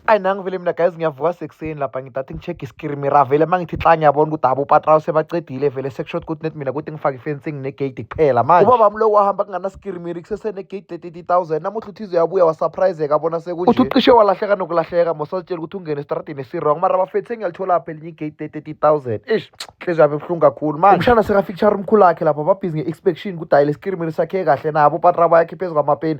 ayi nangu vele mina guys ngiyavuka sekuseni lapha ngidathi ngi-check iskirimi ra vele uma ngithi xa ngiyabona ukuthi abo upatrawu sebacedile vele sekusho ukuthi net mina kuthi ngifake ifencing negeyidi kuphela manje ubaba mlo wahamba kunganaskirimiri kusesenegeyidi le-thirty thousand namuhla uthi ize yabuya wasurpriseka abona sekunje uthi ucishe walahleka nokulahleka mosazitshela ukuthi ungene estradini esirong mara bafethu sengiyalitholapha elinye igeyidi le-thirty thousand ish nhliziyo yami ebuhlungu kakhulu manje umshana sekafikishara umkhulu wakhe lapha babhizi nge-inspection ukuthi hayi leskirimiri sakhe kahle nabo upatrawu bayakhiphe phezu kwamapeni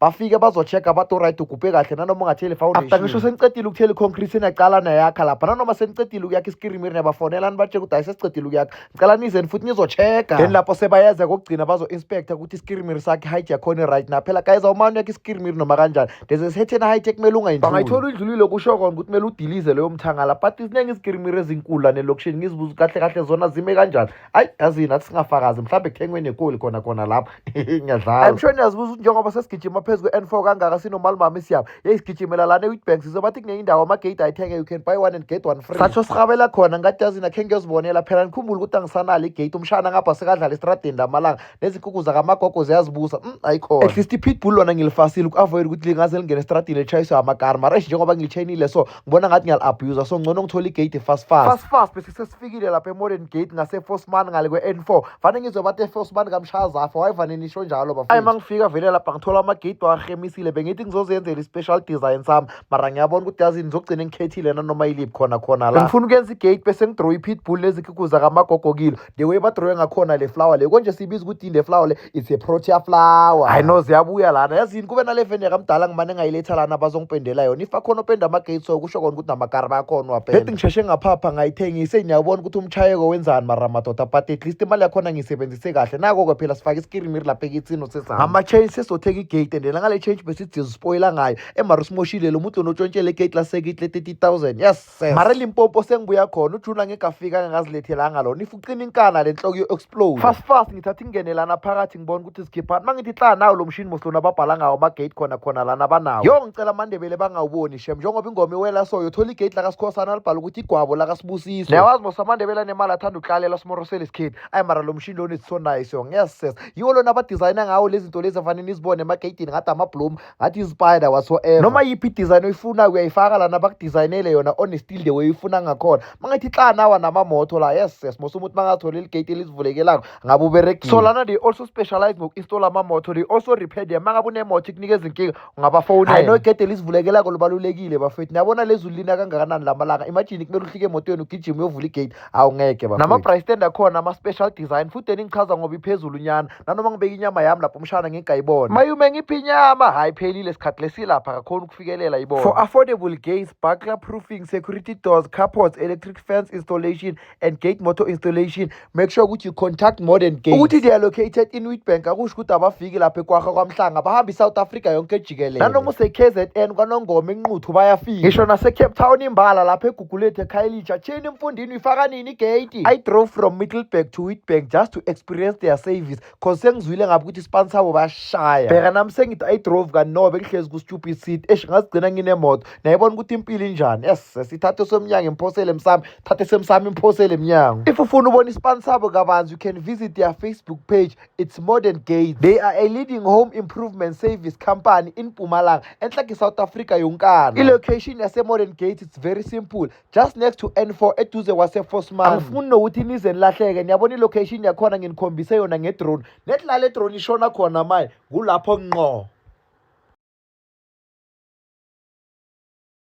bafike bazocheck-a bathi oright ugubhe kahle nanoma ungatheli foundation after ngisho senicedile ukuthela i-concrete niyaqala nayakha lapha nanoma senicedile ukuyakha iskirimiri niyabafonela nibatsheka ukuthi hayi sesicedile ukuyakha ngicela nizeni futhi nizocheck-a then lapho sebayeza kokugcina bazo-inspector ukuthi iskirimiri sakhe height yakhona right na phela guys awumane uyakha iskirimiri noma kanjani there's a certain height ekumele ungayindluli bangayithola uyidlulile kusho kona ukuthi kumele udilize leyo mthangala but ziningi izikirimiri ezinkulu lane lokishini ngizibuza kahle kahle zona zime kanjani ayi yazi nathi singafakazi mhlawumbe kuthengwe nekoli khona khona lapho ngiyadlala i'm sure niyazibuza ukuthi njengoba sesigijima phezu kwe-n four kangaka sinomali mama isiyabo yeyi sigijimela lana e-witbank sizobathi kunenye indawo amageyidi ayithenge you can buy one and get one free satsho sirhabela khona ngathi yazi nakhe ngiyozibonela phela nikhumbule ukuthi angisanalo igeyidi umshana ngapha sekadlala estradeni lamalanga nezinkukhu zakamagogo ziyazibusa um mm, ayikhona at least i-pitbull lona ngilifasile uku-avoyida ukuthi lingaze lingene estradini litshayiswe amakari mara eish njengoba ngilitshenile so ngibona ngathi ngiyali-abuser so ngcono ngithola igate fast fast fast fast bese sesifikile lapha emodern gate ngase-fosman ngale kwe-n four fane ngizwe bathi efosman kamshazafa wayevane nisho njalo bafo ayi uma ngifika vele lapha ngithola amagate wahemisile bengithi ngizozenzela i-special design sami mara ngiyabona ukuthi yazini ngizogcina ngikhethile nanoma iliphi khona khona la ngifuna ukuyenza igate bese ngidrowe i-pitbull nezikhuku zakamagogokilo the way badrowe ngakhona le flower le konje siyibiza ukuthi yini le flower le it's a protea flower hayi no ziyabuya lana yazi yini kube nale feni yakamdala ngimane ngayiletha lana bazongipendela yona if akhona openda ama-gates so kusho kona ukuthi namakari bayakhona uwapenda leti ngisheshe ngaphapha ngayithengise niyawubona ukuthi umchayeko wenzani mara madoda but at least imali yakhona ngiyisebenzise kahle nako-ke phela sifake iskirimiri lapha ekithini sesihamba ngama-change sesizothenga igate and nangale change besithi zispoyila ngayo emara usimoshile lo muntu lonotshontshele igate lasekithi le-30 000 yes Sef. mara limpopo sengibuya khona ujuna ngekafika angangazilethelanga lona if ucima inkana le nhloko yo-explode fast fast ngithatha ingene lana phakathi ngibona ukuthi zikhiphani uma ngithi hla nawo lo mshini moslona ababhala ngawo ama-gate khona khona lana abanawo yo ngicela amandebele bangawuboni shem njengoba ingoma iwela so yothola igate lakasikhosana alibhala ukuthi igwabo lakasibusiso newazi mosa amandebele anemali athanda uhlalela simorosele isikhithi ayi mara lo mshini lona is so nice yo ngiyazisesa yiwo lona abadizayina ngawo lezi zinto lezi afanele nizibone emageyidini ngathi amabloom ngathi izipaida whatsoever noma yiphi idesign oyifuna uyayifaka lana bakudesignele yona on still the way uyifuna ngakhona mangathi xa nawa namamoto la yes yes mose umuntu mangathole iligate elizivulekelako ngabe uberegile so lana they also specialize ngoku-install amamoto they also repair them mangabe unemoto ikunika izinkinga ungabafowunela i know igede elizivulekelako lubalulekile bafethu niyabona lezulu lina kangakanani la malanga imagine kumele uhlike emotweni ugijima uyovula igate awungeke bafethu nama-price stand akhona ama-special design futhi eningichaza ngoba iphezulu nyana nanoma ngibeka inyama yami lapho umshana ngingayibona mayume ngiphi inyama hayi phelile sikhathi lesilapha kakhona ukufikelela ibona for affordable gates buckler proofing security doors carports electric fence installation and gate motor installation make sure ukuthi you contact modern gates ukuthi they are located in witbank akusho ukuthi abafiki lapha ekwaha kwamhlanga bahamba isouth africa yonke jikelele nanoma usekzn kwanongoma enquthu bayafika ngisho nasecape town imbala lapha Gulethe Khayelitsha tsheni emfundini uyifaka nini igate I drove from Middleburg to Witbank just to experience their service cause sengizwile ngabe ukuthi ispan sabo bashaya bheka nami sengithi I drove kanobe bengihlezi ku stupid seat esh ngazigcina nginemoto nayibona ukuthi impilo injani yes sesithathe somnyango imphosele emsami thathe semsami imphosele emnyango if ufuna ubona ispan sabo kabanzi you can visit their Facebook page It's Modern Gates. They are a leading home improvement service company in Pumalanga, enhlaki South Africa yonkana. I-location yase-Modern Gates it's very simple, just next to N4 eduze kwase-Fosman. Angifuni nokuthi nize nilahleke, niyabona i-location yakhona nginikhombise yona ngedrone. Nethi la le drone ishona khona manje, kulapho nqo.